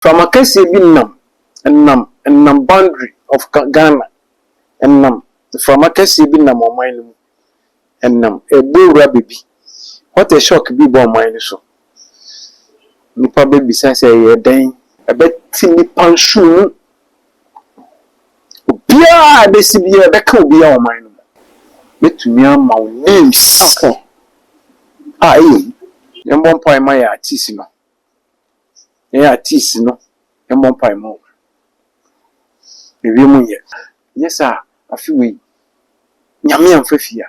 Mframa kɛseɛ bi nam, nam, nam boundary of Ga, Ghana, nam, mframa kɛseɛ bi nam ɔman no mu, nam, ɛrebɔ wura baabi. What a shock bi ba ɔman no so. Nnipa bɛbisa sɛ ɛyɛɛ dɛn? Ɛbɛte nnipa nsono mu. Obiara a ɛbɛsi biara, ɛbɛka obiara wɔ ɔman no mu. Mɛtumi ama wo names a ɛyɛ hu. Yɛmmɔ mpaeɛ mma yɛn artiste no. Yɛn artiste no mmɔ mpae mma wɔn. Mewie mo nyɛ. Nyɛ saa a afe wei Nyame amfa fie a,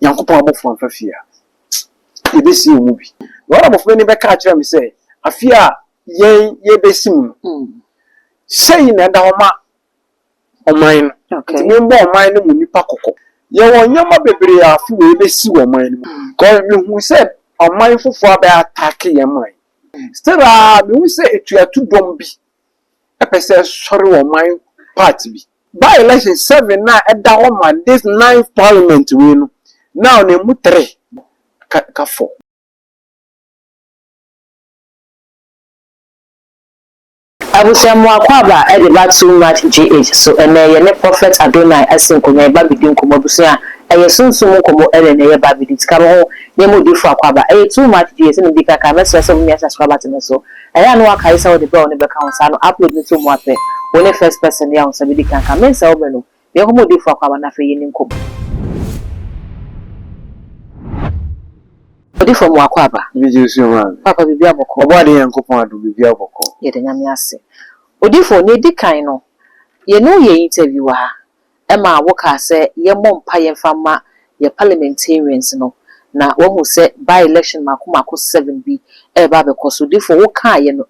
Nyankopɔn abɔfoɔ amfa fie a, yɛbɛsie wɔn mu bi. Na wɔn abɔfoɔ no bɛka akyerɛ me sɛ, Afe a yɛn yɛrebɛsi mu no, sei na ɛda hɔ ma ɔman no. Nti mommɔ ɔman no mu nnipa kɔkɔ. Yɛwɔ nneɛma bebree a afe wei bɛsi wɔ ɔman no mu. Because mehu sɛ ɔman foforɔ abɛ attack yɛn man. Still ara mehu sɛ atuatu dɔm bi pɛ sɛ ɛsɔre wɔ ɔman part bi. By election seven no a ɛda hɔ ma this ninth parliament wei no, now no ɛmu three ka four. Abusua mu akwaaba a ɛde ba too much GH so ɛnɛ yɛne prophet Adonai asi nkonnwa yɛ babedi nkɔmmɔ abusua ɛyɛ sunsum mu nkɔmmɔ ɛne ɛnɛ yɛ babedi tika me ho ne mu difo akwaaba ɛyɛ too much GH sɛnea medi kan kae mɛsrɛ sɛ wobɛmia subscribe button no so ɛyɛ a na wakae sɛ wode berɛ a wone bɛka ho saa no upload no to mu apɛ wone first person yɛ a wo nsa bedi kan ka mensɛ wobɛ no Na yɛnkɔ ma odiyifo akwaaba no afei yɛne no nkɔbɔ. Odiyifo amu akwaaba. Ebi gye nsuo maa me. Paapa biribiara bɔkɔɔ. Ɔbɔade Nyankopɔn adom biribiara bɔkɔɔ. Yɛda Nyame ase. Odiyifo, nea edi kan no, yɛne wo yɛɛ interview wɔ ha, ɛma wo kaa sɛ yɛmmɔ mpaeɛ mfa mma yɛn parliamentarians no, na wahu sɛ by-election mmaako mmaako seven bi ɛreba abɛkɔ so. Odiyifo, wo kaaeɛ no,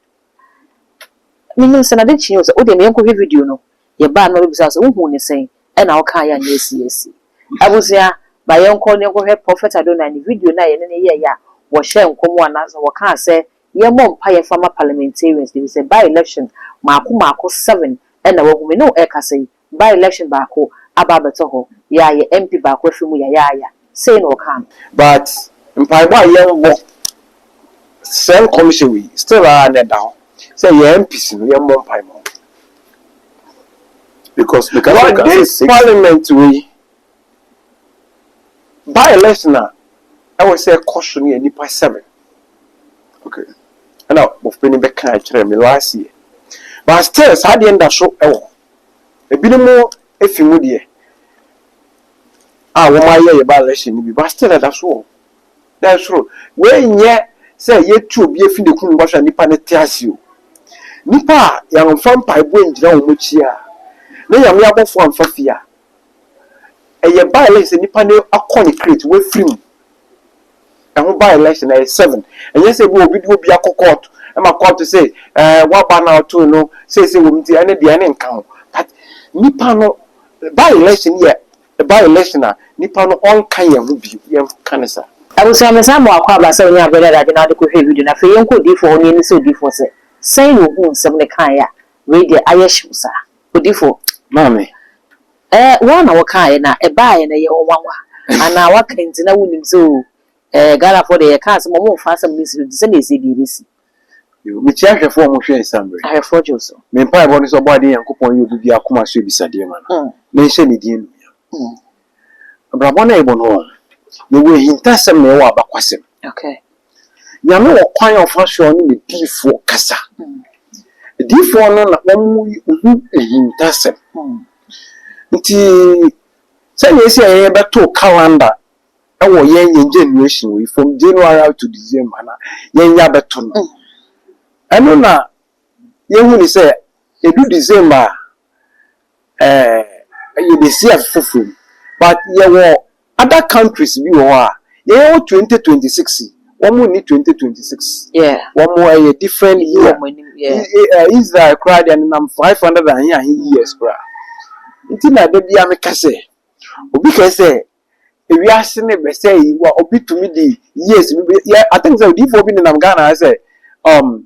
Menim sɛ n'ade kyeeɛ o, sɛ wodeɛ yɛnkɔhwɛ video no, yɛbaa no na ɔbɛbisaa wo sɛ wohuu no sɛn ɛna wokaeɛ a nyɛ asiesie. Abusua, ma yɛnkɔ na yɛnkɔhwɛ Prɔfɛt Adonai ne video no a yɛne no yɛeɛ a wɔhyɛɛ nkɔm anaasɛ wɔkaa sɛ yɛmmɔ mpaeɛ mfa mma parliamentarians no ɛfiri sɛ by-election mmaako mmaako seven ɛna wahu me ne wo ɛrekasa yi, by election baako aba abɛtɔ hɔ yaayɛ MP baako afiri mu yayaaya sei na ɔkaa no. But mpaebɔ a yɛnbɔ saa nkɔmhyɛ wei still ara na ɛda hɔ sɛ yɛn MPs no yɛnbɔ mpae ma wɔn because wɔ this parliament wei by election a ɛwɔ sɛ ɛkɔ so no yɛ nnipa seven okay ɛna bɔfo panin bɛkaa kyerɛɛ me last year but still saa adeɛ no da so wɔ hɔ. Ebinom efi mu deɛ a wɔn ayɛ yɛ ba election no bi but still ɛda so wɔ hɔ. Dɛ soro wei nyɛ sɛ yɛtu obi efi ne kunu mu bɛhwɛ a nipa no te ase o. Nipa a yɛanfa mpaebɔ angyina wɔn akyi a ne Nyame abɔfo anfa fie a. ɛyɛ by election nipa no akɔ ne crate wafiri mu ɛho by election ɛyɛ seven ɛnyɛ sɛ bi obi de obi akɔ court ɛma court sɛ ɛɛ waba na ɔto no sɛ sɛ wɔn ti ɛne deɛ ɛne nka ho but nipa no by election yɛ by election a nipa no ɔnka yɛn ho bi yɛn ka ne saa. Abusua mesan mo akwaaba sɛ onyaa berɛ dada adwene ara de kɔhwɛɛ video no. Afei yɛnkɔ odiyifoɔ hɔ na yɛmmisa odiyifoɔ sɛ, sɛn na ɔhuu nsɛm no kaeɛ a wei deɛ ayɛ hyew saa? Odifo, Maame, ɛɛ wo ara na wokaeɛ na ɛbaeɛ na ɛyɛ wo nwanwa anaa woaka nti na wonim sɛ oo ɛɛ Ghanafoɔ deɛ yɛka asɛm a wɔmfa asɛm no nsi so te sɛdeɛ ɛsɛ deɛ ɛbɛsi. Yoo, mekyia ahwɛfoɔ a wɔhwɛ nsammerɛ. Ahwɛfoɔ gye wo so. Me mpaebɔ ne sɛ Ɔbɔadeɛ Nyankopɔn nyɛ obi biara akoma so abisadeɛ ma no, na ɛnhyɛ ne din anuonyam. Abrabɔ no a yɛbɔ no ɔn, yɛwɔ ahintasɛm na yɛwɔ abakwasɛm. Nyame wɔ kwan a ɔfa so a ɔne ne diifoɔ kasa. Diifoɔ no na wɔn hu ahintasɛm. Nti sɛdeɛ ɛsi a yɛn bɛto calendar ɛwɔ yɛn yɛn generation wei from January out to December na yɛn yɛ abɛto no. Ɛno na yɛhu ne sɛ ɛdu December a Ɛɛ yɛbɛsi afe foforɔ mu but yɛwɔ other countries bi wɔ hɔ a yɛn yɛwɔ twenty twenty six wɔn nni twenty twenty six wɔn ɛyɛ different year ɛɛ Israel koraa deɛ nenam five hundred and ahe ahe years koraa nti na da biara meka sɛ obi kae sɛ ewiase no bɛsɛe yi wa obi tumi de years bi yɛ I think sɛ odiifoɔ bi nenam Ghana ha sɛ um.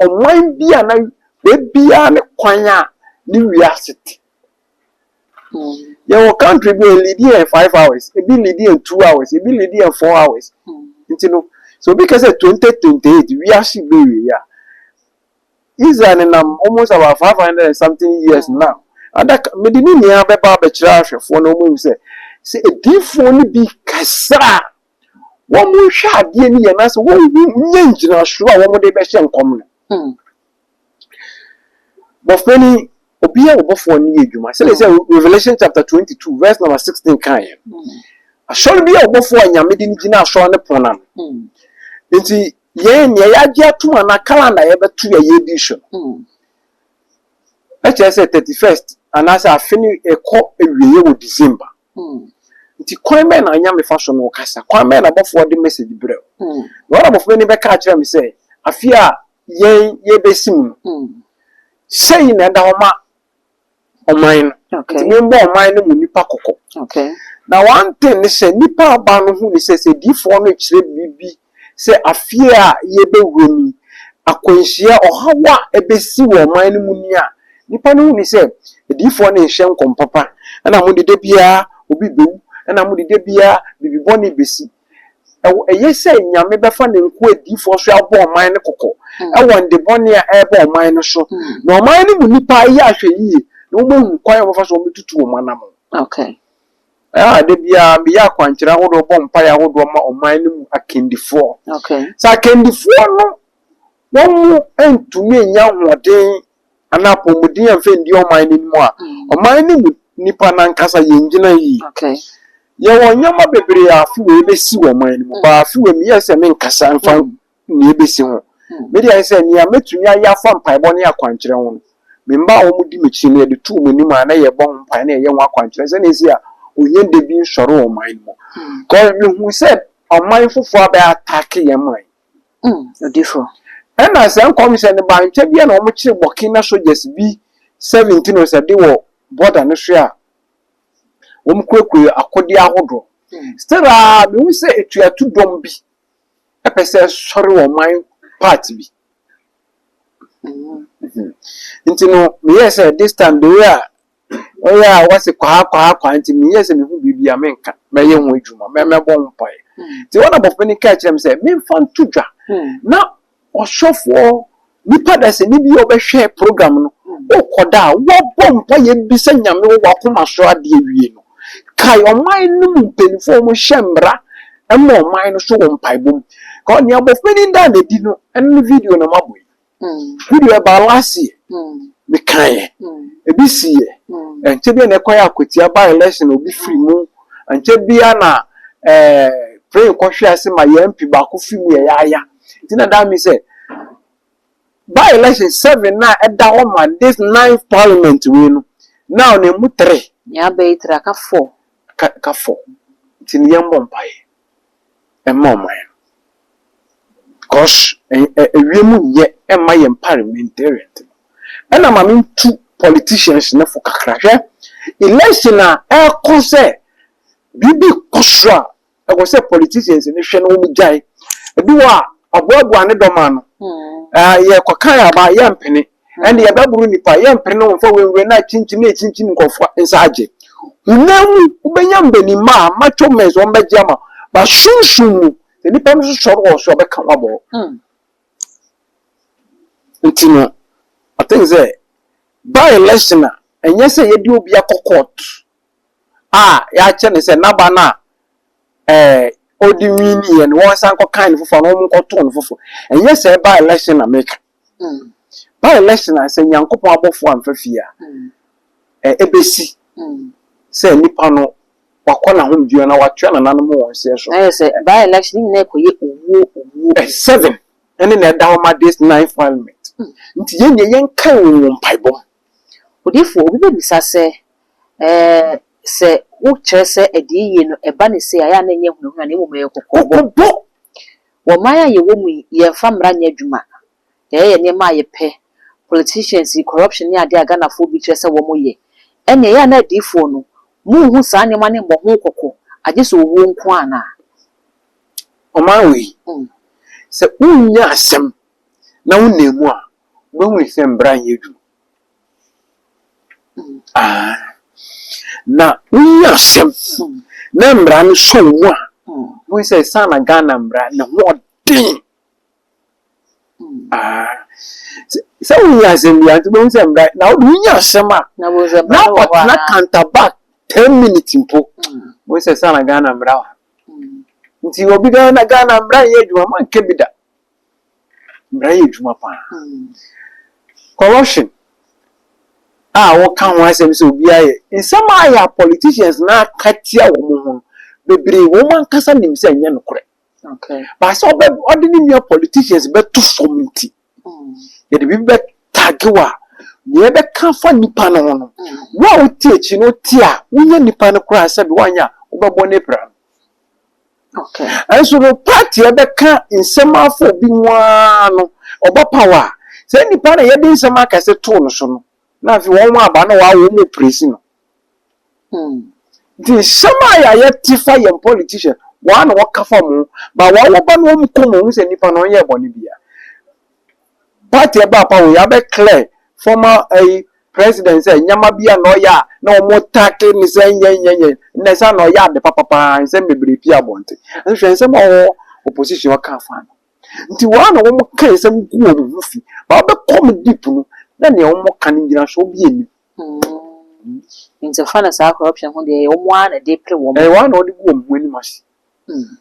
ɔman bi a na baabiara ne kwan a ne wiase te. Yɛwɔ country bi a ɛliidi yɛn five hours, ebi liidi yɛn two hours, ebi liidi yɛn four hours. Nti no, sɛ obi ka sɛ twenty twenty eight wiase bɛwie a, Israel nenam almost about five hundred and something years now. Ada mede ne nyinaa bɛba abɛkyerɛ ahwɛfoɔ na wɔahu sɛ sɛ adiyifoɔ no bi kasa a wɔnhwɛ adeɛ no yie anaasɛ wɔnhu nyɛ ngyinasoɔ a wɔn de bɛhyɛ nkɔm no. Hmm. Bɔfra ni obi yɛ ɔbɔfoɔ no yɛ adwuma sɛdeɛ sɛ hmm. Revelation chapter twenty two verse number sixteen kan yɛ. Hmm. Asɔre bi yɛ ɔbɔfoɔ a nyame de no gyina asɔre no pono ano. Hmm. Nti yɛn nea yɛagye atom anaa calendar yɛbɛto yɛ yɛ di so. Hmm. Ɛkyerɛ sɛ thirty first anaasɛ afe no ɛkɔ awieɛ wɔ December. Hmm. Nti kwan bɛn na anyame fa so no kasa? Kwan bɛn na abɔfoɔ de message brɛ wo? Hmm. Na ɔna abɔfoɔ ni bɛka akyerɛ me sɛ, afi a yɛn yɛbɛsi mu no, hmm. sɛyi na ɛda hɔ ma ɔman no. Okay. Nti membɔ ɔman no mu nipa kɔkɔ. Okay. Na one thing ne sɛ, nipa aba no hu ne sɛ, sɛ diifoɔ no kyerɛ biribi sɛ afeɛ a yɛrebɛwura mu yi, akwanhyia, ɔhaw a ɛbɛsi wɔ ɔman no mu nie a, nnipa no hunu sɛ adiyifoɔ no nhyɛ nkɔm papa. Ɛna wɔn de da biara obi bɛwu, ɛna wɔn de da biara biribi bɔne bɛsi. Ɛwɔ ɛyɛ sɛ Nyame bɛfa Ne nkoa adiyifoɔ so abɔ ɔman no kɔkɔ wɔ nnde bɔne a ɛreba ɔman no so, na ɔman no mu nnipa yɛ ahwɛyie na wɔahu kwan a wɔbɛfa so wɔbɛtutu wɔn anammɔn. Okay. Ah, da biara meyɛ akwankyerɛ ahodoɔ, bɔ mpaeɛ ahodoɔ ma ɔman no mu akandifoɔ. Okay. Sɛ akandifoɔ no wɔn mu ntumi nya ahoɔden anaa apɔmuden amfa ndi ɔman no anim a, mm. ɔman no mu nipa nankasa yɛn gyina yi. Okay. Yɛwɔ nneɛma bebree a afi wɔ yɛbɛsi wɔ ɔman no mu, mm. baa afi wɔ meyɛ sɛ menkasa mfa mm. nea ebesi ho. Me de, ayɛ sɛ nea metumi ayɛ afa mpaebɔ ne akwankyerɛ ho no, me mma a wɔdi m'akyi no, yɛde to wɔn anim a na yɛbɔ ho mpae na yɛyɛ ho akwankyerɛ sɛnea esi a ohia da bi nsɔre wɔ ɔman no mu. Because mihu sɛ ɔman foforo abɛ attack yɛn man. Mm, odifo. Ɛna saa nkɔmhyɛ no baa ntwa bi a na wɔkyere Burkina soldiers bi seventeen or sɛ de wɔ border no so a wɔkurakura akode ahodoɔ. Still a, mehu sɛ atuatudɔm bi ɛpɛ sɛ ɛsɔre ɔman part bi. Nti no, meyɛɛ sɛ this time the way a ɔyɛ a wɔse kwaha kwaha kwaha nti meyɛɛ sɛ mehu biribi a menka mɛyɛ ho adwuma mɛmɛbɔ ho mpaeɛ. Nti wɔn abɔfo no kaa kyerɛ me sɛ memfa nto dwa na Ɔhwɛfoɔ, nipa dasani bi a ɔbɛhwɛ program no, wokɔ da a, wabɔ mpaeɛ bisa Nyame wɔ w'akoma so adeɛ awie no, kae ɔman no mu mpanimfoɔ a wɔhyɛ mmara ma ɔman no so wɔ mpaebɔ mu. Kɔ, nea abɔfra no daa no adi no, ɛno ne video na mabɔ yi. Video ɛbaa last year, mekaeɛ, ebi siiɛ, ankyɛ biara na ɛkɔyɛɛ akwatia by election na obi firi mu, ankyɛ biara na ɛɛ plane kɔhwee ase ma yɛn MP baako firi mu yɛyaaya. Nti na daa me sɛ by election seven na ɛda hɔ ma this ninth parliament wei no na ɔno emu three. Nea aba yi three aka four. Ka ka four. Nti no yɛn bɔ mpaeɛ ɛma ɔman no cos ɛwia mu nyɛ ɛma yɛn parliamentarians no. Ɛna ma me ntu politicians no fo kakra hwɛ election a ɛkɔ sɛ biribi kɔ so a ɛwɔ sɛ politicians no hwɛ na wɔn gyae ebi wɔ a ɔboaboa ne dɔm ano ɛɛ yɛ kɔkan aba yɛ mpene ɛna yɛ bɛboro nipa yɛ mpene na wɔn fa wɔn nwura na akyinkyim na akyinkyim nkɔfoɔ nsa agye hunam mu wobɛnya mbanimma a macho men wɔn bɛgye ama ba sunsun mu sɛ nipa no so sɔre wɔ so ɔbɛka wɔn abɔ nti no i think sɛ by election a ɛnyɛ sɛ yɛde obi akɔ court a yɛakyerɛ no sɛ n'aba no a ɛɛ ɔde winnieɛ no wɔn san kɔkan no foforɔ na wɔn nkɔtoo no foforɔ ɛnyɛ sɛ ɛba election na meka ba election a sɛ nyankopɔn abɔfoɔ amfa fie a ɛ ɛbɛsi sɛ nipa no wakɔ n'ahomdua na watua nananom wɔn nseɛ so ayɛ sɛ ba election nyinaa ɛkɔyɛ owuo owuo ɛ seven ɛne na ɛda hɔ ma this nine parliament nti yɛn deɛ yɛnkan wɔn wɔn mpaebɔ mu Odiyifo, obi bebisa sɛ, Ɛɛ, sɛ wokyerɛ sɛ adiyie no ɛba no sei a, ɛyɛ a na ɛnyɛ hunahuna na mmom ɛyɛ kɔkɔbɔ? Wɔ man a yɛwɔ mu yi, yɛmfa mmara nyɛ adwuma. Yɛyɛyɛ nneɛma a yɛpɛ. Politicians yi, corruption ne adeɛ a Ghanafoɔ bi kyerɛ sɛ wɔyɛ. Ɛnneɛ, ɛyɛ a na adiyifoɔ no, monhu saa nneɛma no mmɔ ho kɔkɔ, agye sɛ owuo nko ara anaa? Ɔman wei, sɛ wonnya asɛm na wonam mu a, Moahu sɛ mbra nnyɛ edwuma? Aah. Na wonyi asɛm na mbra no sɔ wo mu a, bohu sɛ saana Ghana mbra no ho ɔden. Aah. Sɛ wonyi asɛm bia ntsi bohu sɛ mbra na wode wonyi asɛm a na ɔtsena counter back ten minutes mpo, bohu sɛ saana Ghana mbra wɔ ha. Ntsi obi bɛyɛ na Ghana mbra nnyɛ edwuma, mɔnnkɛ bi da. Mmara yɛ adwuma paa. Corruption a wɔka ho asɛm sɛ obiara yɛ, nsɛm a yɛn politicians no aka tia wɔn ho no, bebree wɔn ankasa nim sɛ ɛnyɛ nokorɛ. But sɛ ɔbɛ ɔde ne nua politicians bɛto fam nti, yɛde biribi bɛ tagge wo a, nea ɛbɛka afa nipa no ho no, wo a wote akyi no wote a, wonyɛ nipa no koraa sɛbe woanyɛ a, wobɛbɔ ne bra no. Nanso no part a ɛbɛka nsɛm afa obi ho ara no ɔba paw a, saa nipa na yɛde nsɛm akɛse too no so no na afei wɔn ho aba na wɔawo wɔn opresi no. Nti nsɛm a yɛayɛ te fa yɛn politician wɔn a na wɔka fa wɔn ho ba wɔawo ba na wɔn kɔn mu hu sɛ nipa no ɔnyɛɛ bɔne biara. party ɛbaa pa wɔ yi abɛ clear former ɛyi eh, president sɛ nyama bi a na ɔyɛ a na wɔn take ne sɛ nyɛnyɛnyɛ na ɛsɛ na ɔyɛ ade papapaa nsɛm bebree pii abɔnten nhwɛ nsɛm a wɔn opposition ɔka afa no nti wɔn a na wɔn ka nsɛm gu wɔn ho fi baa bɛ kɔm deep no na nea wɔn ka no gyina so bi enim. Mm. Nti fa no saa corruption ho deɛ wɔn ara na de pere wɔn. Ɛyɛ wɔn na wɔde gu wɔn ho anim ase. Mm-hmm.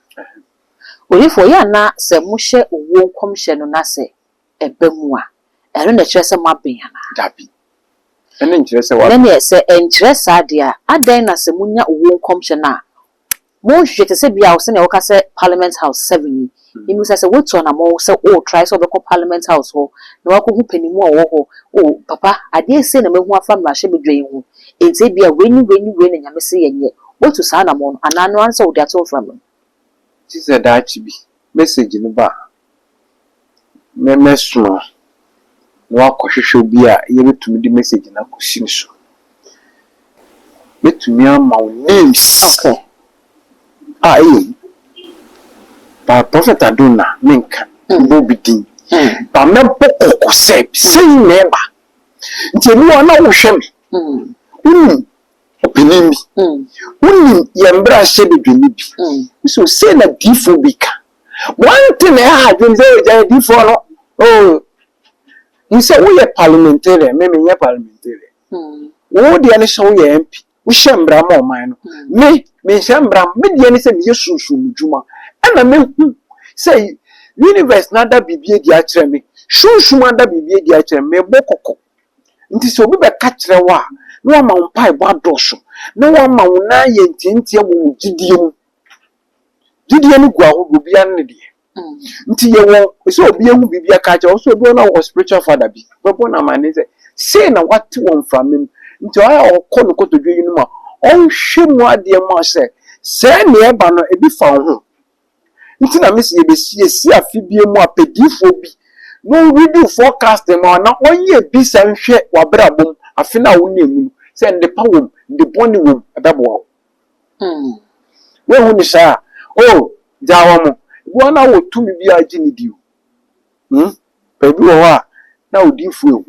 Odiyifoɔ, yɛ ana sɛ mohyɛ owuo nkɔmhyɛ no na sɛ ɛba mu a, ɛno na ɛkyerɛ sɛ moaben anaa? Dabi. Ɛno nkyerɛ sɛ wɔaben. Ɛnneɛ, sɛ ɛnkyerɛ saa deɛ a, adɛn na sɛ monya owuo nkɔmhyɛ no a, monhwehwɛ te sɛ bi a sɛdeɛ woka sɛ Parliament House 7 yi, Mimisa sɛ woatu anamɔn sɛ wo try sɛ wobɛkɔ parliament house hɔ na woakɔhu panimu a ɔwɔ hɔ o papa adeɛ sei na mahu afa mmarahyɛ badwa yi ho enti ebia wei ne wei ne wei na nyame se yɛnyɛ woatu saa anamɔn no anaa ɛno ara ne sɛ wode ato mframa mu. Gyesɛ daakye bi message no ba a mɛsoma. na wakɔhwehwɛ obi a yɛbɛtumi de message no akɔsi ne so. Mɛtumi ama wo names okay. a ɛyɛ yi. But Prophet Adonna menka mbɔ obi din. Hmm. But mɛbɔ kɔkɔ sɛ sɛ yi na ɛba. Nti ebi wɔ na wohwɛ me. Hmm. Wonim ɔpanin bi. Hmm. Wonim yɛn mmarahyɛ badwani bi. Hmm. So sɛ na diifo bi ka. Wɔntene ha adwene sɛ ogya adifoɔ no oh hu sɛ woyɛ parliamentarian me menyɛ parliamentarian wo deɛ ne sɛ woyɛ mp wohyɛ mmara ma ɔman no me menhyɛ mmara me deɛ ne sɛ meyɛ sunsun mu dwuma ɛna mehu sɛ universe no ada biribi adi akyerɛ me sunsun ada biribi adi akyerɛ me mebɔ kɔkɔ nti sɛ obi bɛka kyerɛ wo a na wama wo mpaebɔ adɔso na wama wo nan yɛ ntiantia wɔ wo gyidie mu Gyidie no gu ahodoɔ, obiara ne ne deɛ. Nti yɛwɔ sɛ obi ahu biribi aka akyerɛ wo, sɛ obi wɔ hɔ na ɔwɔ spiritual father bi, wobɛbɔ no amanneɛ sɛ sei na wate wɔ mframa mu. Nti ɔyɛ a ɔkɔ no kotodwe yinom a, ɔnhwɛ mu adeɛ mma wo sɛ sɛɛ na ɛreba no ebi fa wo ho. Nti na mese yɛbɛsiesie afe biara mu apɛdiifoɔ bi na ɔreadi wo forecast mma wo, na ɔnyɛ bi sa nhwɛ w'abrabɔ mu afe no a wonam mu no sɛ nnepa wɔ mu, nnebɔne wɔ mu, ɛbɛboa wo. Mm. Woahu ne saa? Oh, gyaa wɔn. Ebi wɔ hɔ na wɔ tumi bi a egye ne di o. Mm. Baabi wɔ hɔ a, na odiyifo ehu.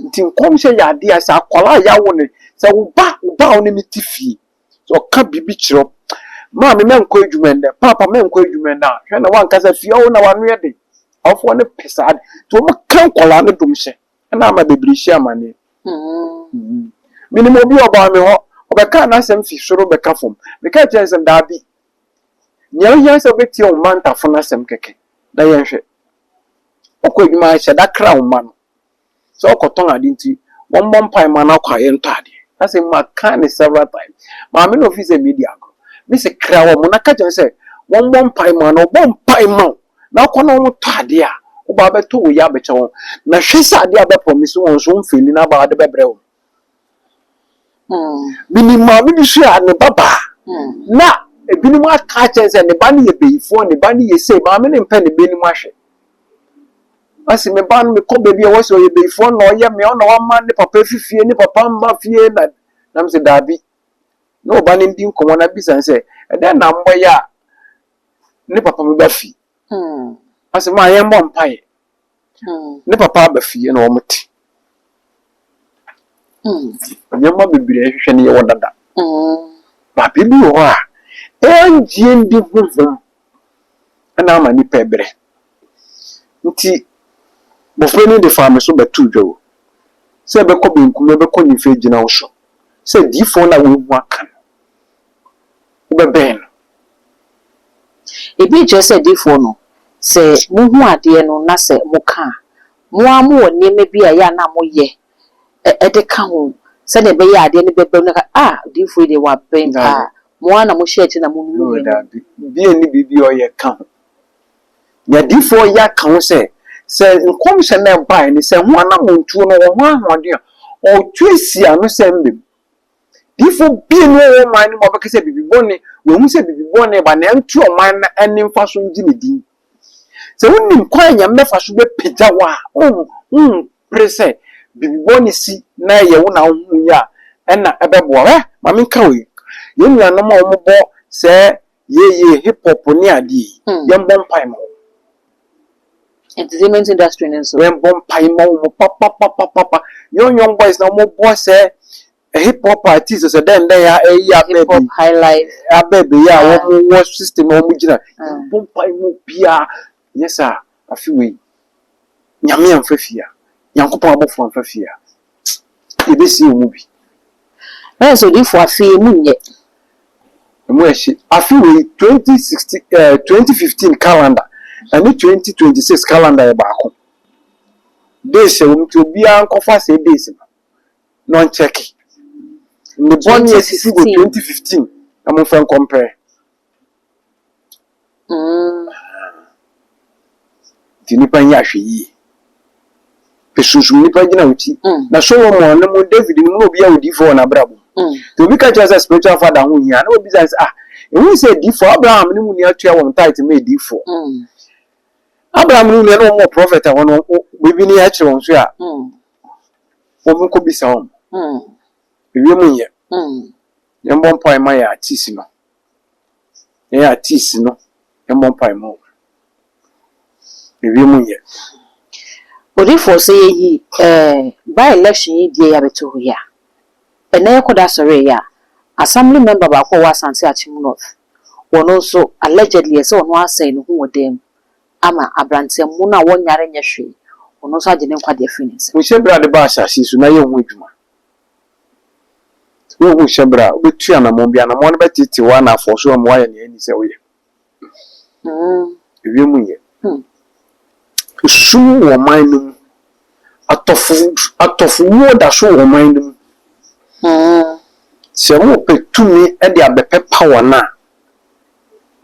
Nti nkɔmhyɛ yɛ ade a sɛ akwadaa a yɛawo no, sɛ wo ba, wo ba a wo ne no te fie, sɛ ɔka biribi kyerɛ wo, maame mɛnkɔ adwuma nnɛ, paapa mɛnkɔ adwuma nnɛ a, hwɛ na wankasa fie hɔ na wano yɛ den. Awofoɔ no pɛ saa de, nti wɔka nkwadaa no domhyɛ. Ɛna ama bebree hyia amane. Minim obi a ɔbaa me hɔ, ɔbɛkaa n'asɛm fi soro bɛka fam. Mekaa kyerɛɛ no sɛ, Daabi, nea ohia sɛ wobɛtie wo mma ntafo no asɛm kɛkɛ na yɛnhwɛ. Ɔkɔ adwuma a, hyɛ da kra wo mma no sɛ ɔkɔtɔn ade nti, wɔmmɔ mpae mma no akɔ a yɛntɔ ade. Asɛm mu akaa no several times. Maame no ofii sɛ medi agorɔ. Mise, Kra wɔn na ka kyerɛ wɔn sɛ wɔmmɔ mpae mma no. Ɔbɔ mpae ma wo. na wokɔ na wotɔ adeɛ a, woba abɛtɔ wei abɛkyɛ wɔn. Na hwɛ sɛ adeɛ a wobɛpromise wɔn nso womfeeli na aba wode bɛbrɛ wɔn. Menim maame bi nso a, ne ba baa na ebinom aka akyerɛ no sɛ ne ba no yɛ bayifoɔ, ne ba no yɛ sei, maame no mpɛ ne ba anim ahwɛ. Ɔse me ba no mekɔ baabi a wɔse ɔyɛ bayifoɔ na ɔyɛ me, ɔna wama ne papa afi fie, ne papa mma fie na na mese daabi. Na ɔba no di nkɔmmɔ na bisa no sɛ ɛdɛn na moyɛ a ne papa bi ba fie. Ɔse maa yɛn bɔ mpaeɛ. Ne papa aba fie na wɔn te. Nneɛma bebree ɛhwehwɛ no yɛwɔ dada. Ba biribi wɔ hɔ a ɛngyeɛ ndi honhom ɛna ama nipa ɛbrɛ. Nti bɔfra ni de faa me so bɛ too dwa o. Sɛ ɛbɛkɔ benkum ɛbɛkɔ nifa ɛgyina wo so. Sɛ diifoɔ no a woahu aka no. wobɛbɛn no. Ebi kyerɛ sɛ adiyifoɔ no, sɛ mohu adeɛ no na sɛ moka a, mo ara mowɔ nneɛma bi a ɛyɛ a na moyɛ de ka ho sɛdeɛ ɛbɛyɛ a adeɛ no bɛba mu na wɔaka sɛ, Ah, odiyifoɔ yi deɛ wabɛn pa ara. Mo ara na mohyɛ akyire na monunu nneɛma no. Daabi, obi nni biribi a ɔyɛ ka ho. Deɛ adiyifoɔ yɛ aka ho sɛ, sɛ nkɔmhyɛ no a ɛbaeɛ no, sɛ ɛho anammɔntuo no, wɔ ho ahoɔden a, ɔretu asi ano sɛ ɛmmam. Diyifo binom wɔ wɔn man no mu a wɔbɛka sɛ biribi bɔne, wɔahu sɛ biribi bɔne reba, na ɛnto ɔman no a ɛnne mfa so ngye ne din. Sɛ wunim kwan a Nyame bɛfa so bɛpagya wo a, wompere sɛ biribi bɔne si na ɛyɛ wo na wohui a, ɛna ɛbɛboa wo. Hwɛ, ma menka wei. Yɛn nuanom a wɔbɔ sɛɛ Yie yie hip hop ne adeɛ yi yɛn bɔ mpae ma wɔn. Entertainment industry no nso. Yɛn bɔ mpae ma wɔn papapapapa. Young young boys na wɔn bɔ sɛ eh, hip hop artiste sɛ dɛn dɛn a ɛyi abɛɛ bi. Hip hop high life. Abɛɛ bi yɛ a wɔn wɔ system a wɔn gyina. Yɛn bɔ mpae ma obiara. Anyɛ saa a, afe wei, Nyame amfa fie a, Nyankopɔn abɔfoɔ amfa fie a, yɛbɛsie wɔn mu bi. Nurse Odiyifoɔ, Afe yi, emu nyɛ. Emu ɛhye. Afe wei, 2016 eh, 2015 calendar ɛne 2026 calendar yɛ baako. Days ɛwɔ mu nti obiara nkɔfa saa days no na ɔnkyɛke. Nnebɔne a ɛsisi wɔ 2015 na momfa nkɔmpare. Mm. Nti nnipa nyɛ ahwɛyie. Ɛsunsum nnipa gyina wo ti. Mm. Na Solomon no mu David no mu na obi yɛ odiifoɔ wɔ n'abrabɔ mu. Mm. Nti obi ka kyerɛ sɛ spiritual father ho hia na obi sɛ ah ɛhu sɛ adiifoɔ Abraham ne mu nua tua wɔn tithe ma adiifoɔ. Mm. Abraham ne mu nua na wɔn wɔ prophet a wɔn biribi ne akyerɛ wɔn so a. Mm. Wɔn nkɔ bisa wɔn. Mm. Ewie mu nyɛ. Mm. Yɛn bɔ mpae ma yɛ atisi no. Yɛn artiste no mmɔ mpae mma wo. Mewie mu nyɛ. Odifoɔ sɛ yɛyi eh by election yi deɛ yɛabɛto hɔ yi a, ɛnnɛ yɛkɔ da sɔree yi a, assembly member baako a ɔwɔ Asante Akyem North, ɔno nso allegedly ɛsɛ ɔno asɛe ne ho wɔ dan mu ama abranteɛ mmono a wɔnyare nyɛ hwee, ɔno nso agye ne nkwagye afiri ne nsam. Wo sɛ berɛ a ade baa asase yi so na yɛ ho adwuma. Sɛ wohu hyɛ bere a, wubetu anammɔn bi. Anammɔn no bɛteetee wo anafɔso ama woayɛ nea enni sɛ woyɛ. Ewiem nyɛ. Sum wɔ ɔman no mu. Atɔfo atɔfowuo da so wɔ ɔman no mu. Sɛ mopɛ tumi de abɛpepa wɔn a,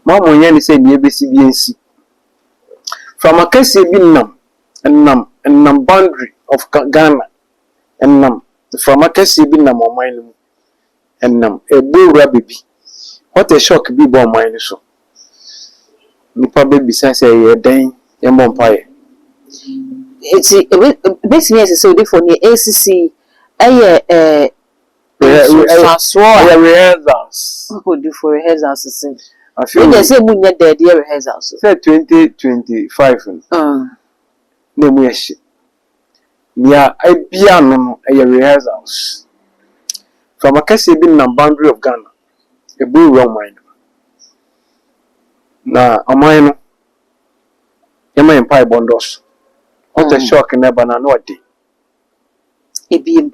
mo a monyɛ ne sɛ nea ebesi biara nsi. Mframa kɛseɛ bi nam nam nam boundary of Ghana. Ɛnam, mframa kɛseɛ bi nam ɔman no mu. Ɛnam, ɛbɔ wura bɛ bi. What a shock bi bɔ ɔman no so. Nnipa bɛ bisa sɛ ɛyɛ dɛn? Yɛn bɔ mpaeɛ. Nti ɛbɛ, ɛbɛtumi ayɛ sɛ sɛ odifoɔ neɛ ɛresisi yi ɛyɛ ɛɛ nsunsuansoɔ a. Ɛyɛ rehearsals. Oh odifoɔ rehearsals sɛn? Afei. Wei deɛ sɛ ɛmu nyɛ dɛ ɛde yɛ rehearsals o. Sɛ 2025 no. Aah. Na ɛmu yɛ hye. Nea abia ano no ɛyɛ rehearsals. Mframa kɛseɛ bi nenam boundary of Ghana ɛbue wura ɔman no mu. Na ɔman no yɛma yɛn mpaebɔ ndɔɔso. What a shock na ɛba no ano ɔden. Ebiem.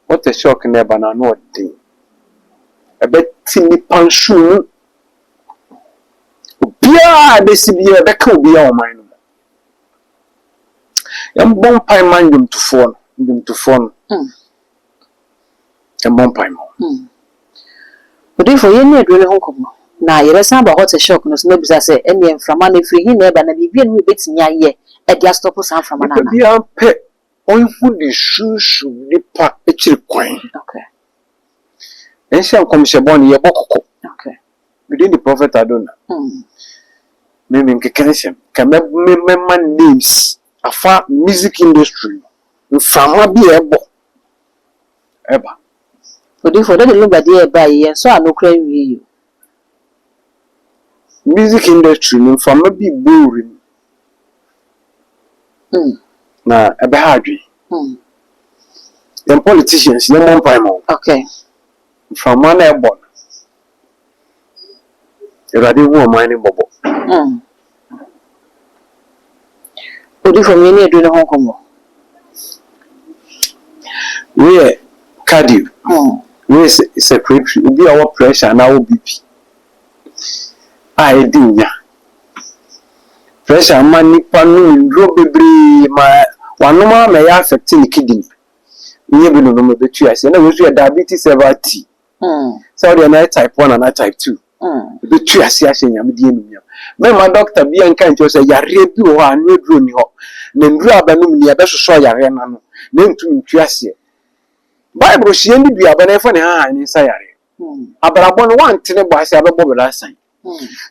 What a shock na ɛba no ano ɔden. Ɛbɛte nnipa nsono mu. Obiara a ɛbɛsi biara ɛbɛka obiara wɔ ɔman no mu. Yɛmbɔ mpae mma nnwomtofoɔ no, nnwomtofoɔ no. Mm. Yɛmbɔ mpae mma wɔn. Mm. Odiyifoɔ, yɛn ne aduro no ho nkɔmmɔ, na yɛbɛsan aba hɔ te shock no so na abisa sɛ, ɛnneɛ mframa no, ɛfiri he na ɛba, na biribi a ɛno mu yɛbɛtumi ayɛ de astɔpo saa mframa no anaa? Nnipa biara mpɛ ɔnhu ne sunsum nipa akyiri kwan. Ɛnsɛ nkɔmhyɛ bɔne yɛbɔ kɔkɔ. Me din de Prophet Adona. Me me nkeka nsɛm. Nka mɛ me mɛma names afa music industry no mframa bi a ɛbɔ ɛba. Odiyifo, dɛ de lugba deɛ ɛba yi, yɛnsɔ ano koraa nwie yi o. Music industry no mframa bi bɔ wim na ɛbɛha adwene. Yɛn politicians yɛn mmɔ mpae ma wɔn. Okay. Mframa na ɛbɔ no. Awurade hu ɔman no mmɔbɔ. Odifo a munni adu no ho nkɔmmɔ. Wei yɛ cardio. Wei yɛ circulatory. Obi a ɔwɔ pressure anaa ɔwɔ BP a edi nya. Pressure ma nipa nom nnuro bebree ma wanom ara ma ɛyɛ affect ne kidney. Woyɛ bi nom nom ebetu ase. Ɛna wei nso yɛ diabetes server tea. sɛ wodeɛ na yɛ type one anaa type two ɛbɛtu ase ahyɛ nyame din animuonyam mɛma dɔkta bia nka nkyerɛ sɛ yareɛ bi wɔ hɔ a ano aduro nni hɔ na nnuro a bɛnom ni ɛbɛsosɔ yareɛ no ano na ɛntumi ntu aseɛ bible hyɛ yɛn ne duaba na yɛfa ne hahan ne nsa yareɛ abrabɔ no woante ne bɔ ase a bɛbɔ bra asan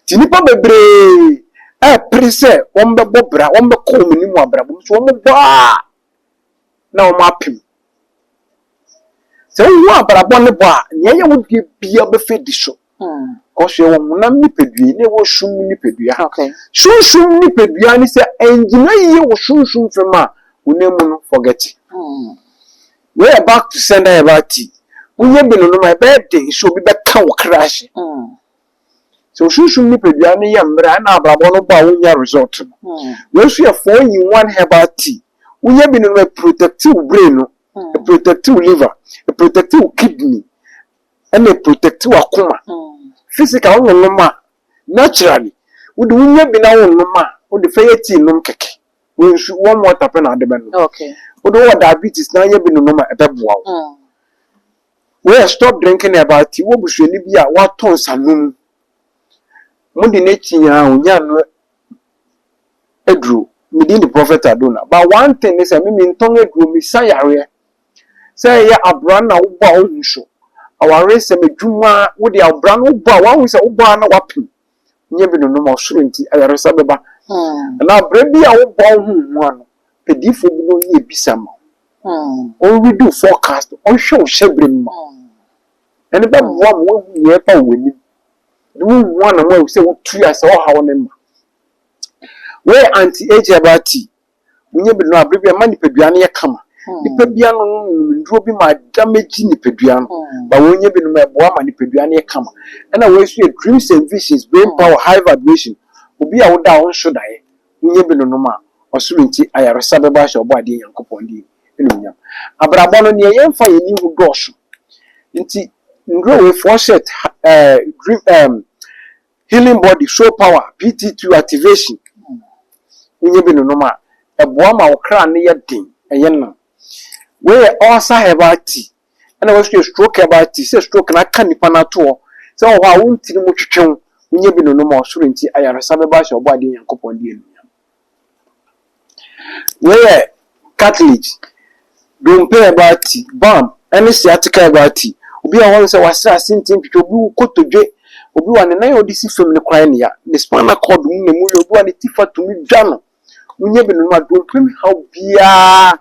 nti nnipa bebree ɛpere sɛ wɔmbɛbɔ bra wɔmbɛkɔ wɔn anim wɔ abrabɔ mu so wɔmbɔ a na wɔapem. Sɛ wohu abrabɔ ne bɔ a, nea ɛyɛ wo deɛ biara bɛfa adi so. Because yɛwɔ honam nipadua yi na yɛwɔ sum nipadua. Okay. Sunsum nipadua ne sɛ ɛngyina yie wɔ sunsum fam a, honam mu no, forget it. Wei yɛ back to sender yɛ back tea. Woyɛ bi no nom a, ɛbɛyɛ den sɛ obi bɛka wo kra ase. Sɛ wo sunsum nipadua no yɛ mmerɛ a, ɛna abrabɔ no bɔ a wonnya result no. Wei nso yɛ four in one herbal tea. Wonya bi nom a, ɛprotɛkte wo brain no, ɛprotɛkte wo liver, ɛprotɛkte wo kidney, ɛna ɛprotɛkte w'akoma. Physical wo nnonom a, naturally wode wonya bi na wonom a, wode fa yɛ tea nom kɛkɛ. Wei nso warm water pɛ na wode bɛnom. Wode wowɔ diabetes na wonya bi nonom a, ɛbɛboa wo. Wei yɛ stop drinking herbal tea. Wowɔ busuani bi a watɔ nsanom, mode no akyi a ɔnya ano aduro. Me din de Prophet Adona. But one thing ne sɛ me mentɔn aduro, mesa yareɛ. Sɛ ɛyɛ abura na wobɔ a wohu so, awaresɛm, adwuma, wode abura no wobɔ a woahu sɛ wobɔ ara na woapem. nyɛ bi nonom ɔsoro nti ayaresa bɛba anaa berɛ bi a wobɔ wo ho ho ano pɛdifoɔ bi na ɔyɛ abisa ma wo ɔredi wo forecast ɔnhwɛ wo hyɛberɛ mu ma ɛne bɛboa ma woahu nea ɛba wɔ anim ne wohu anam a ɛwɔ sɛ wotua sɛ ɔhaw ne ma wei anti agya baa tii Wonya bi no a, berɛ bi a ɛma nipadua no yɛ kama. Nnipa bi anonom nnuro bi ma adamage nipadua no. But wonya bi nom a, ɛboa ma nipadua no yɛ kama. Ɛna wei nso yɛ dreams and visions, brain power, high vibration. Obi a woda a ɔnhwe daeɛ, wonya bi no nom a, ɔsoro nti ayaresa bɛba ahyɛ Ɔbɔadeɛ Nyankopɔn din animuonyam. Abrabɔ no, deɛ yɛmfa yɛn ani nhu dɔɔso. Nti nnuro wei, fɔɔhyɛt, ha ɛɛ dream ɛɛm healing body, soul power, PT2 activation, wonya bi nonom a, ɛboa ma wo kra no yɛ den, ɛyɛ nam. Wei yɛ ulcer herbal tea, ɛna wei nso yɛ stroke herbal tea, sɛ stroke no aka nipa no ato hɔ, sɛ wɔ hɔ a wo ntiri mu twetwe wo, wonya bi nonom a ɔsoro nti ayaresa bɛba ahyɛ ɔbɔadeɛ Nyankopɔn de anuonyam. Wei yɛ cartilage, dompe a ɛbɔ ati, bam ne sciatica a ɛbɔ ati. Obi wɔ hɔ no sɛ wasra ase nti ntwitwa, obi wo kotodwe, obi wa ne nan a ɔde si fam no koraa nea, ne spinal cord mu na emu yɛ, obi wa ne ti fa tumi dwa no. Wonyɛ binom a dompe mu haw biara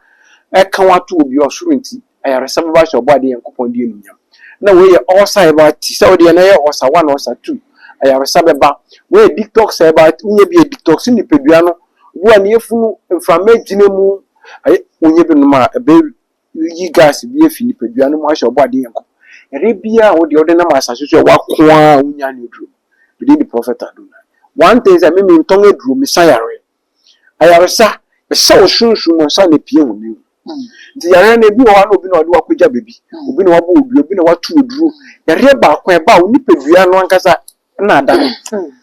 ɛka wo ato obi ɔsoro nti. Ayaresa bɛba ahyɛ Ɔbɔadeɛ Nyankopɔn din anuonyam. Na wei yɛ ulcer a ɛba a ti sɛ wo deɛ na ɛyɛ ulcer one ulcer two. Ayaresa bɛba. Wei yɛ detox a ɛba a wonya bi adetox nipadua no. Obi wɔ a ne yafunu mframa agyina mu. Ayɛ wonya bi nom a ɛbɛyi gas bi afi nipadua no mu ahyɛ Ɔbɔadeɛ Nyankopɔn. Yareɛ biara a wo deɛ wode nam asase so a ɛwɔ ako ara a wonnya ne aduro. Me din de Prɔfɛt Adonai. One thing sɛ me mentɔn aduro, mesa yareɛ. Ayaresa, ɛhyɛ wo sunsum ma ansa na ɛpue honam mu. Nti yareɛ no, ebi wɔ hɔ a na obi na ɔde wo akɔgya baabi, obi na wabɔ wo dua, obi na wato wo duro. Yareɛ baako a ɛba a wo nipadua no ankasa na ada no.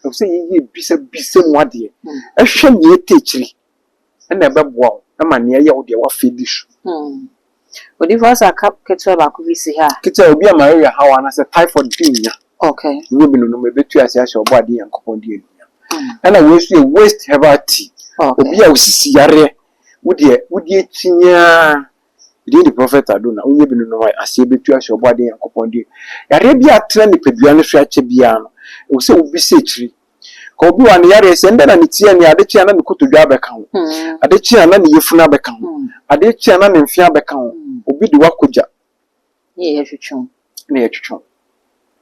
Ɛwɔ sɛ yɛyɛ bisabisa mu adeɛ, hwɛ nea ɛtɔ akyiri na ɛbɛboa wo ma nea ɛyɛ wo deɛ woafa adi so. Odifo asa ka ketewa baako bi si ha. Ketewa, obi a malaria haw anaasɛ typhoid fi nnya. Okay. Nnya bi no nom, ebetu ase ahyɛ Ɔbɔadeɛ Nyankopɔn din anuonyam. Mm. Ɛna wei nso yɛ waste herbal tea. Okay. Obi a osisi yareɛ, wo deɛ wodi akyinnye ara. Ɛdin de Prophet Adona. Wonnya bi no nom a, aseɛ betu ahyɛ Ɔbɔadeɛ Nyankopɔn din. Yareɛ bi a atena nipadua no so akyɛ biara no, ɛwɔ sɛ wobisa akyiri. Ka obi wɔ a ne yareɛ sɛ ndɛ na ne ti ani ade kye a na ne kotodwe abɛka ho ade kye a na ne yafunu abɛka ho ade kye a na ne mfe abɛka ho obi de wakɔ gya ne yɛtwetwe wo ne yɛtwetwe wo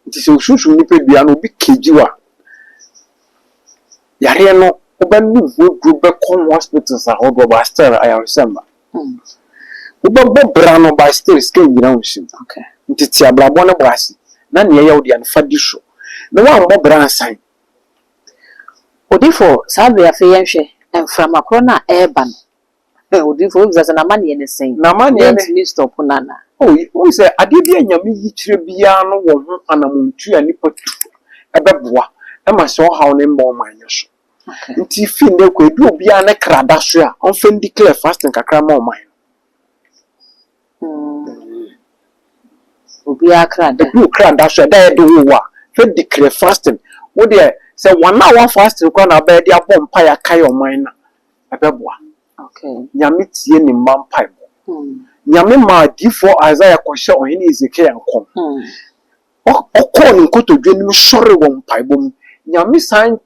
nti sɛ osunsum nipa dua no obi kegye wo a yareɛ no wobɛnom ho aduro bɛkɔ hospitals ahodoɔ ba still ayaresɛm ba. Wobɛbɔ bra no by stairs ka ngyina wo nsa mu nti tse abrabɔ no bɔ ase na nea ɔyɛ wo dea no fa di so na woambɔ bra ansan. Odifo saa bere afei yɛnhwɛ mframa koro no a ɛreba no eh odifo wobisa sɛ n'amaneɛ no sɛn N'amaneɛ no yɛntumi stop no anaa. Oh wohu sɛ adeɛ bi a Nyame yikyerɛ biara no wɔ ho anamontuo a nipa tu ɛbɛboa ɛma saa ɔhaw no mma ɔman no so. Ntsi fi ndɛ kɔ, bi a obiara ne kra da so a, ɔmfa ndeclare fasting kakra mma ɔman no. Obiara kra da. Bi a okra da so a, da a yɛde woo wo a, hwɛ declare fasting. Wo deɛ, sɛ one hour fasting koraa na abɛyɛ de abɔ mpae akae ɔman no a, ɛbɛboa. Nyame tsie ne mma mpaebɔ. Nyame maa diyifoɔ Isaiah kɔhyɛɛ Ɔhene Hesekia nkɔm. Ɔkɔɔ ne nkotodwe anim sɔree wɔ mpaebɔ mu. Nyame san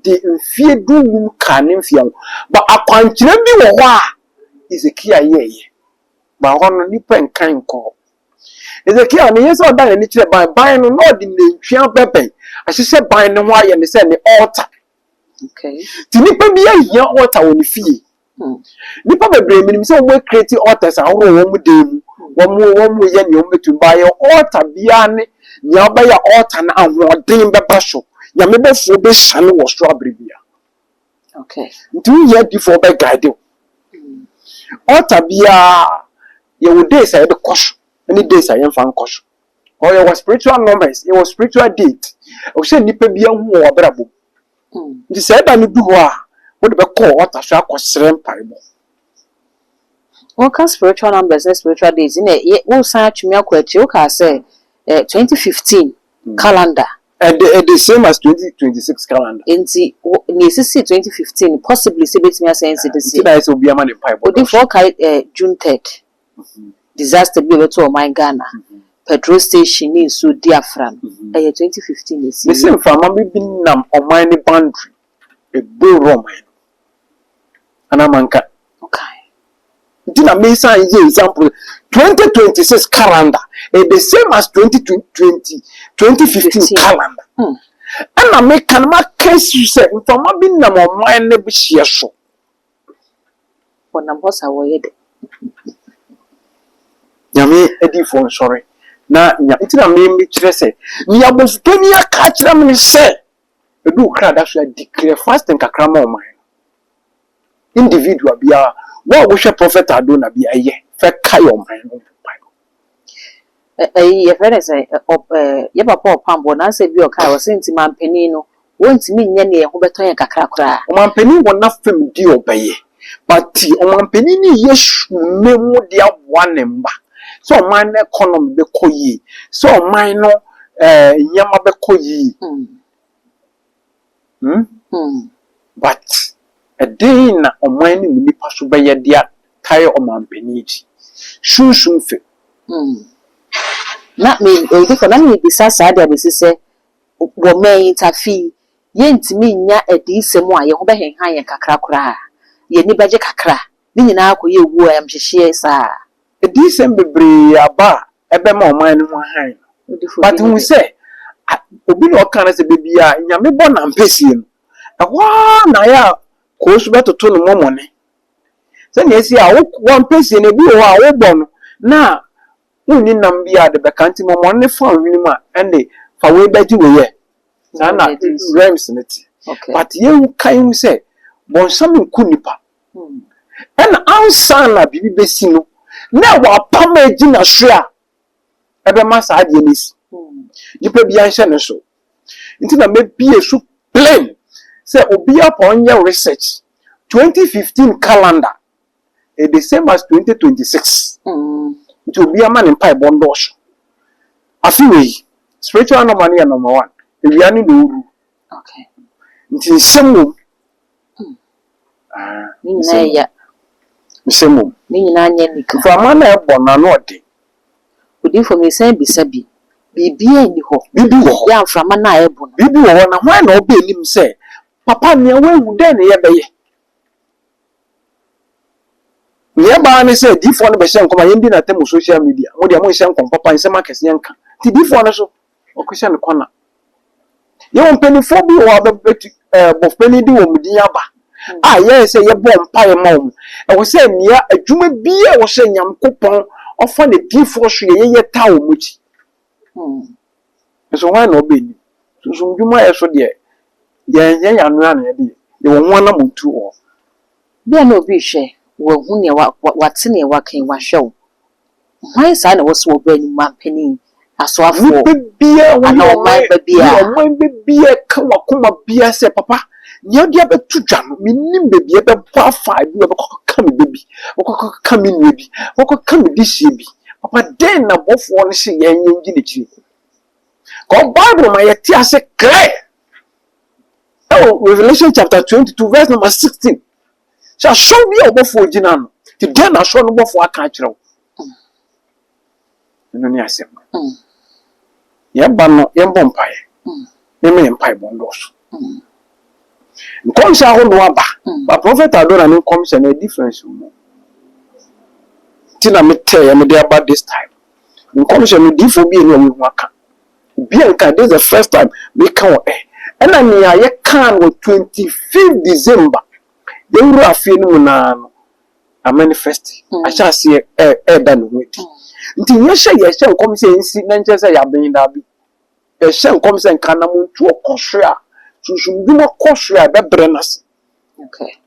de mfeɛ du-nnum kaa ne mfeɛ ho. But akwankyerɛ bi wɔ hɔ a Hezekia yɛeɛ. But hɔ no nnipa nkan nkɔɔ. Hezekia no ɛnyɛ sɛ ɔda n'ani kyerɛ ban. Ban no na ɔde nantwie abɛbɛn ahyehyɛ ban no ho ayɛ no sɛ ne altar. Okay. Nti nnipa biara hia altar wɔ ne fie. Nnipa bebree menim sɛ wɔn ɛcreate altars ahorow wɔ wɔn dan mu, wɔn wɔn yɛ nea wɔn bɛtumi, but yɛ altar biara ne nea ɔbɛyɛ a altar no ahoɔden bɛba so, Nyame bɔfoɔ bɛsiane wɔ soro abere biara. Okay. Nti wo hia difoɔ bɛ guide wo. Altar biara yɛ wɔ days a yɛde kɔ so, ɛne days a yɛmfa nkɔ so. Ɔyɛ wɔ spiritual numbers, yɛ wɔ spiritual date. Ɔsɛ nnipa biara hu wɔ wɔ abrabɔ mu. Nti sɛ ɛda no du hɔ a, wode bɛkɔ altar so akɔsrɛ mpaebɔ. Woka spiritual numbers ne spiritual dates nna yɛ wosan atwem akɔ akyire wokaa sɛ eh, 2015 calendar. Ɛde ɛde same as 2026 calendar. Nti wo nea esisii 2015 no possibly sɛ ebetumi asɛe nti de Nti seɛ. na ayɛ sɛ obiara ma ne mpaebɔ dɔɔso. Odifoɔ kae eh, June third. disaster bi a ɛbɛto ɔman Ghana, petrol station ne nsuo di afra no, ɛyɛ twenty fifteen na ɛsiieɛ. Mese mframa bi bi nam ɔman no boundary, ɛboro ɔman no, anaa manka? Wokae. Nti na me san yɛ example, twenty twenty six calendar, ɛyɛ the same as twenty twenty, twenty fifteen calendar. Hmm. Ɛna meka no maka si sɛ mframa bi nam ɔman no hyeɛ so. Wɔnam hɔ sa wɔyɛ dɛ. Nyame adiyifoɔ nsɔre na nya. Nti na me mekyerɛ sɛ. Nea abɔfopanin aka akyerɛ me ne sɛ. Ɛdu wo kra da so a, declare fasting kakra ma ɔman no. Individual biara, wo a wohwɛ Prophet Ado na bi a, ɛyɛ. Fɛ kae ɔman no. Ɛyi yɛfrɛ no sɛn? Yɛn papa ɔpaabɔ n'asɛm bi a ɔkae ɔse nti manpanin no wɔntumi nyɛ nea ɛho bɛtɔ yɛn kakra koraa. Ɔmanpanin wɔ n'afam deɛ ɔbɛyɛ but ɔmanpanin no reyɛ sumina mu de aboa ne mma sɛ ɔman no economy bɛkɔ yie, sɛ ɔman no nneɛma bɛkɔ yie. Hmm. But ɛdɛn na ɔman no mu nnipa so bɛyɛ de atare ɔmanpanin akyi? Sunsum fɛ. Hmm. Na me, ɛdi kɔ, na merebisa saa de abɛsi sɛ, wɔ mmɛ yi, Tafi, yɛntumi nnya adiyisɛm a yɛn ho bɛhenhan yɛn kakra koraa? Yɛn ani bɛgye kakra? Ne nyinaa akɔyɛ owuo ayamhyehyeɛ saa? Adiyisɛm bebree aba a ɛbɛma ɔman no ho hann no. But hu sɛ, obi na ɔka no sɛ da biara Nyame bɔ n'ampɛsie no, ɛhɔ ara na ayɛ a Koosu bɛtoto no mɔmɔne. Sɛnea ɛsi a w'ampɛsie no, ebi wɔ hɔ a wobɔ no na wonni nam biara a de bɛka, nti mɔmɔne no fa wo hwenem a, ɛnde fa wei bɛgye wei ɛ. Saa na realms no te. But yɛnkae hu sɛ, bɔnsam nku nnipa. Ɛna ansa na biribi bɛsi no, na ɛwɔ apam a ɛdi na soɛ a ɛbɛma saa adeɛ no asi. Nipa biara nhyɛ ne so. Nti na mɛbie so plem sɛ obiara pa ɔnyɛ research. 2015 calendar is the same as 2026. Nti obiara ma ne mpaebɔ ndɔɔso. Afe wei, spiritual normal no yɛ number one. Awia ne na ɔru. Nti nsɛm wɔ mu. Ne nyinaa yɛ ya. Mesɛ mmom. Ne nyinaa nyɛ anika. Mframa na ɛbɔ no ano ɔden. Odiyifo, mesan bisa bi. Biribiara nni hɔ. Biribi wɔ hɔ. Yɛ a mframa no a ɛbɔ no. Biribi wɔ hɔ, na hwan na ɔba anim sɛ, Papa, nea wawu, dɛn na yɛbɛyɛ? Nea ɛba ara ne sɛ adiyifoɔ no bɛhyɛ nkɔm a yɛndi no atam wɔ social media. Mo deɛ monhyɛ nkɔm papa, nsɛm akɛseɛ nka. Enti diyifoɔ no nso, Wɔkɔhyɛ no kɔna. Yɛwɔ mpanimfoɔ bi wɔ hɔ a bɛbɛtu ɛɛ bɔfpanin de wɔn din aba a yɛyɛ sɛ yɛbɔ mpaeɛ ma wɔn. Ɛwɔ sɛ nea adwuma biara a wɔhyɛ Nyankopɔn ɔfa n'adiyifoɔ so yɛ yɛyɛ taa wɔn akyi. Nso hwan na ɔbɛnim? Sunsum dwuma yɛ so deɛ yɛnyɛ yɛn ano ano yɛde yɛ. Yɛwɔ ho anammɔntuo wɔ hɔ. Bia na obi rehwɛ wahu nea wate nea waka yi wahwɛ wo. Hwan saa na ɛwɔ sɛ wɔbɔ anim ma mpanin, asoafoɔ, anaa ɔman ba biara? Ɔman ba biara ka wɔ akoma biara sɛ, Papa, nea wode abɛto dwa no, mennim baabi a ɛbɛbɔ afa. Ebi wɔ hɔ a, ɛbɛkɔ akɔka me ba bi, ɛbɛkɔ akɔka me nua bi, ɛbɛkɔ akɔka me dehyeɛ bi. Papa, dɛn na bɔfoɔ no se yɛn yɛnnyina akyire? Kɔɔ Bible ma yɛte ase clear ɛwɔ Revelation chapter 22 verse number 16. Sɛ asɔre bi a ɔbɔfoɔ gyina ano, nti dɛn na asɔre no bɔfoɔ aka akyerɛ wo? Ɛno ne asɛm no. Yɛba no, yɛmbɔ mpaeɛ. Mema yɛn mpaebɔ nnɔɔso. Nkɔmhyɛ ahodoɔ aba, but Prophet Adona ne nkɔmhyɛ no, difference wɔ mu. Nti na metɛɛ mede aba this time. Nkɔmhyɛ no, diifoɔ mmienu a wɔahu aka. Bianca this is the first time meka wo ɛ ɛna nea yɛkaa no wɔ twenty fifth December yɛwuraa fie no mu no ara no a manifest ahyɛ aseɛ ɛ ɛɛda ne ho adi nti nyɛ sɛ yɛhyɛ nkɔm sɛ ɛnsi na nkyɛ sɛ yɛaben daabi yɛhyɛ nkɔm sɛ nka anamontuo kɔ soro a sunsumdwuma kɔ soro a ɛbɛbrɛ no ase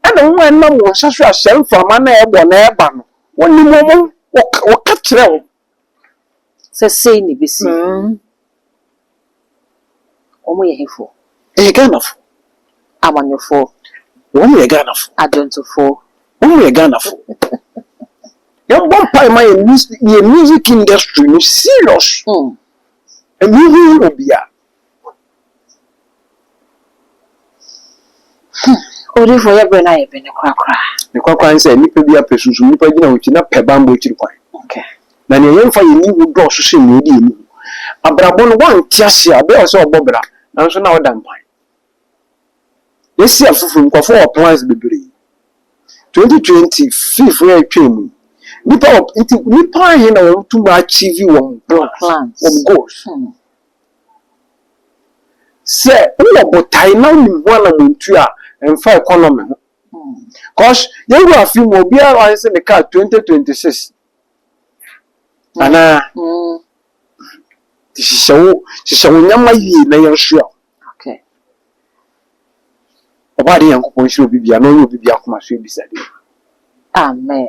ɛna wɔn a ɛnam wɔn nsa so a sɛ mframa no a ɛbɔ na ɛba no wɔnim wɔn ho wɔka wɔka kyerɛ wɔn sɛ sei na ɛbɛsi. Wɔn yɛ hefoɔ? Ɛyɛ Ghanafoɔ. Amanyɔfoɔ. Wɔn yɛ Ghanafoɔ. Adwontofoɔ. Wɔn yɛ Ghanafoɔ. Yɛn bɔ mpae ma yɛn music industry no serious. Ɛmu hu hu obiara. Odiyifo yɛ bere na yɛ bene korakora. Ne korakora ne sɛ nnipa biara pɛ sunsum nnipa gyina wo akyi na pɛ bammɔ akyiri kwan. Na nea yɛmfa yɛn ani hu dɔɔso sen nea yɛde yɛn ani hu. Abrabɔ no, woante ase a, bere a ɛsɛ sɛ ɔbɔ bra, nanso na ɔda mpan. Yɛasi afoforo, nkurɔfo wɔ plans bebree. 2020 fifo a ɛretwa mu yi, nnipa wɔ nti nnipa ahe na wɔatumi achieve wɔn plans, wɔn goals? Sɛ wowɔ botae na wonim ho anamɔntu a, ɛmfa economy ho. Cause yɛwura afe mu a, obiara na wahwɛ sɛ ne car 2026. Anaa? Nti hyehyɛ wo hyehyɛ wo nneɛma yie na yɛnsoa wo. Okay. Ɔbɔ ade Nyankopɔn nhyira obi bia na ɔnyɛ obi bia akoma so abisade. Amen.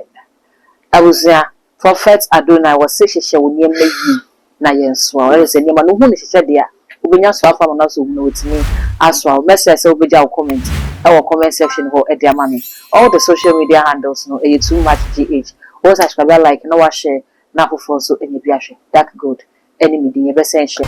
Abusua, Prophet Adonai wɔ se hyehyɛ wo nneɛma yie na yɛn soa wo. Ɛyɛ sɛ nneɛma no wohu ne hyehyɛ deɛ a, wobɛnya soa afa ama no asɔ wo mu na watumi asoa wo. Mɛsrɛ sɛ wobɛgya wo comment ɛwɔ comment section hɔ de ama me. All the social media handles no ɛyɛ too much GH. Wo subscribe, like na wa share na afoforɔ nso anya bi ahwɛ. Dark Gold. ɛne me din, yɛbɛsan ahyia.